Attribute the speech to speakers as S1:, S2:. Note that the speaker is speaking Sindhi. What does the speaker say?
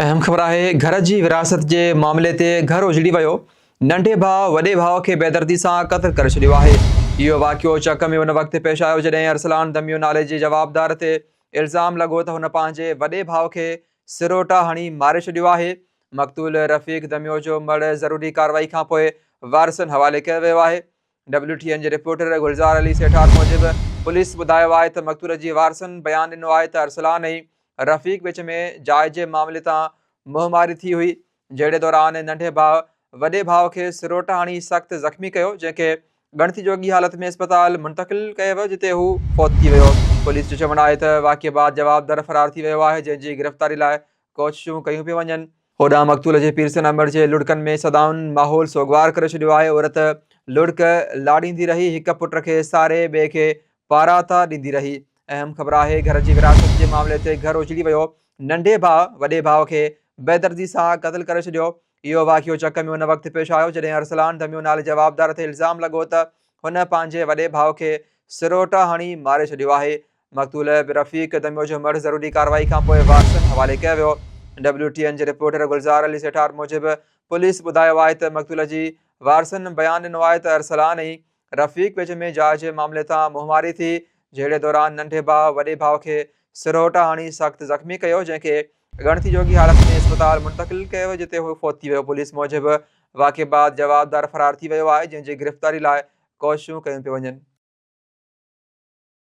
S1: اهم خبر آهي گهر جي ورهاست جي معاملي تي گهر اجڙي ويو، ننڍي ڀاء وڏي ڀاء کي بيدردي سان قتل ڪري ڇڏيو آهي. اهو واقعو چڪ ۾ ان وقت پيش آيو جڏهن ارسلان دميو نالي جي جوابدار تي الزام لڳو ته هن پنهنجي وڏي ڀاء کي سروٽا هڻي ماري ڇڏيو آهي. مقتول رفيق دميو جو مڙهه ضروري ڪارروائي کانپوء وارثن حوالي ڪيو ويو آهي. ڊبليو ٽي اين جي رپورٽر گلزار علي سيٺار موجب پوليس ٻڌايو آهي ته مقتول جي وارثن بيان ڏنو آهي ته ارسلان ۽ رفيق وچ ۾ جاء جي معاملي تان منهن ماري ٿي هئي جهڙي دوران ننڍي ڀاء وڏي ڀاء کي سروٽ هڻي سخت زخمي ڪيو جنهن کي ڳڻتي جوڳي حالت ۾ اسپتال منتقل ڪيو ويو جتي هو فوت ٿي ويو پوليس جو چوڻ آهي ته واقعي بعد جوابدار فرار ٿي ويو آهي جنهن جي گرفتاري لاء ڪوششون ڪيون پيون وڃن. هوڏانهن مقتول جي پير سنا مڙهه جي لڙڪن ۾ صدائن ماحول سوڳوار ڪري ڇڏيو آهي. عورت لڙڪ لاڙيندي رهي، هڪ پٽ کي ساري، ٻئي کي پاراتا ڏيندي رهي. اهم خبر آهي، گهر جي ورهاست جي معاملي تي گهر اجڙي ويو. ننڍي ڀاء وڏي ڀاء کي بيدردي سان قتل ڪري ڇڏيو. اهو واقعو چڪ ۾ ان وقت پيش آيو، جڏهن ارسلان ڌميو نالي جوابدار تي الزام لڳو ته هن پنهنجي وڏي ڀاء کي سروٽا هڻي ماري ڇڏيو آهي. مقتول رفيق دميو جو مڙهه ضروري ڪارروائي کانپوء وارثن حوالي ڪيو ويو ڊبليو ٽي اين جي رپورٽر گلزار علي سيٺار موجب پوليس ٻڌايو آهي ته مقتول جي وارثن بيان ڏنو آهي ته ارسلان ۽ رفيق وچ ۾ جاء جي معاملي تان منهنواري ٿي جهيڙي دوران ننڍي ڀاء وڏي ڀاء کي سرهوٽا هڻي سخت زخمي ڪيو جنهن کي ڳڻتي جوڳي حالت ۾ اسپتال منتقل ڪيو ويو جتي هو فوت ٿي ويو پوليس موجب واقعي بعد جوابدار فرار ٿي ويو آهي جنهن جي گرفتاري لاء ڪوششون ڪيون پيون وڃن